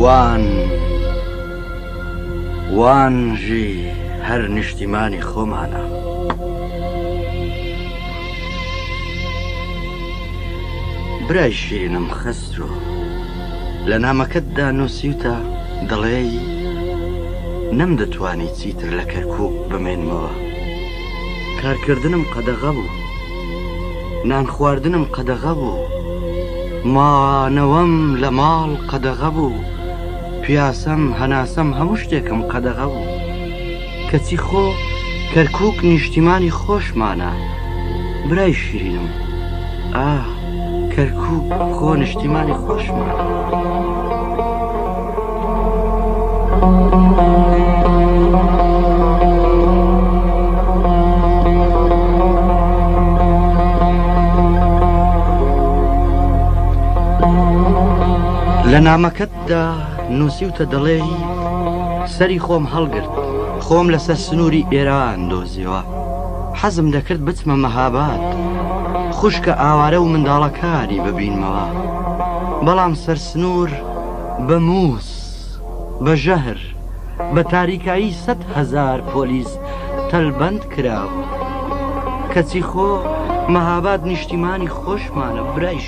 وان وانژی هەر نیشتیمانی خۆمانە برای شیرینم خەسترۆ لە نامەکەتدا نووسیوتە دەڵێی نەم دەتوانی چیتر لە کەرکک بمێنمەوە کارکردنم قەدەغە بوو نانخواردنم قەدەغە بوو مانەوەم لە ماڵ قەدەغە بوو پیاسەم هەناسەم هەموو شتێکم قەدەغە بوو کەچی خۆ کەرکک نیشتیمانی خۆشمانە برای شیرینم ئاه کەرکوک خۆ نیشتیمانی خۆشمە. دا نووسیوتە دەڵێ سەری خۆم هەڵگرت خۆم لەسەر سنووری ئێران دۆزیەوە حەزم دەکرد بچمە مەهاباد خوشکە ئاوارە و منداڵەکانی ببینمەوە بەڵام سەر سنوور بە مووس بە ژەهر بە تاریکایی سە هزار پۆلیس تەلبەند کراوە کەچی خۆ مەهاباد نیشتیمانی خۆشمانە برایش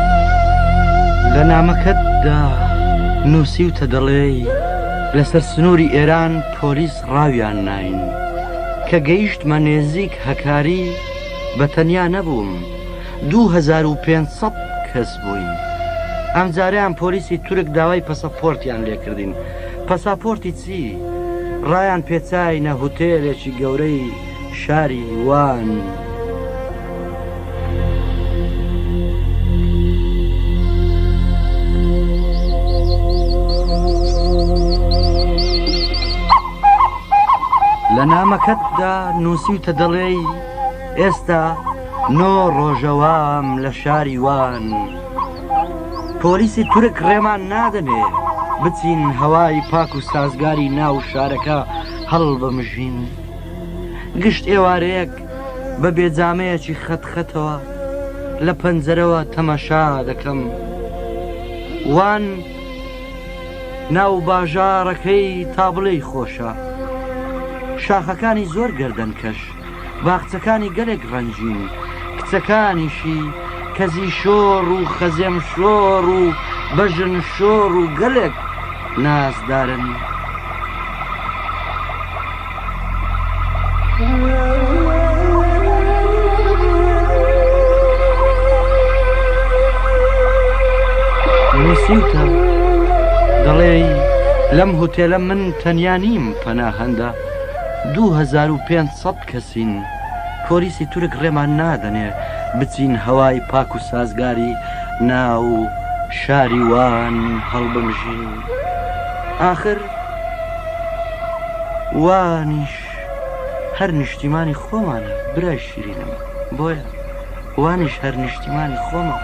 لە نامەکەتدا نووسیوتە دەڵێی لەسەر سنووری ئێران پۆلیس ڕاویان نین کە گەیشتمە نێزیک هەکاری بە تەنیا نەبووم 2500 کەس بووین ئەم جاریان پۆلیسی تورک داوای پەسەپۆرتیان لێکردین پەساپۆرتی چی ڕایان پێچینە هوتێلێکی گەورەی شاری وان. لە نامەکەتدا نووسیوتە دەڵێی ئێستا نۆ ڕۆژەوام لە شاری وان پۆلیسی تورک ڕێمان نادەنێ بچین هەوای پاک و سازگاری ناو شارەکە هەڵبمژین گشت ئێوارەیەک بە بێجامەیەکی خەت خەتەوە لە پەنجەرەوە تەمەشا دەکەم وان ناو باژارەکەی تابڵێی خۆشە شاخەکانی زۆر گردن کەش باخچەکانی گەلێک ڕەنجین کچەکانیشی کەزی شۆڕ و خەزێم شۆڕ و بەژن شۆڕ و گەلێک نازدارن. نووسیوتە دەڵێ لەم هوتێلە من تەنیا نیم پەنا هەندە 2500 کەسین پۆلیسی تورک ڕێمان نادەنێ بچین هەوای پاک و سازگاری ناو شاری وان هەڵبمژین آخر وانیش هەر نیشتیمانی خۆمانە برای شیرینم بۆیە وانیش هەر نیشتیمانی خۆمان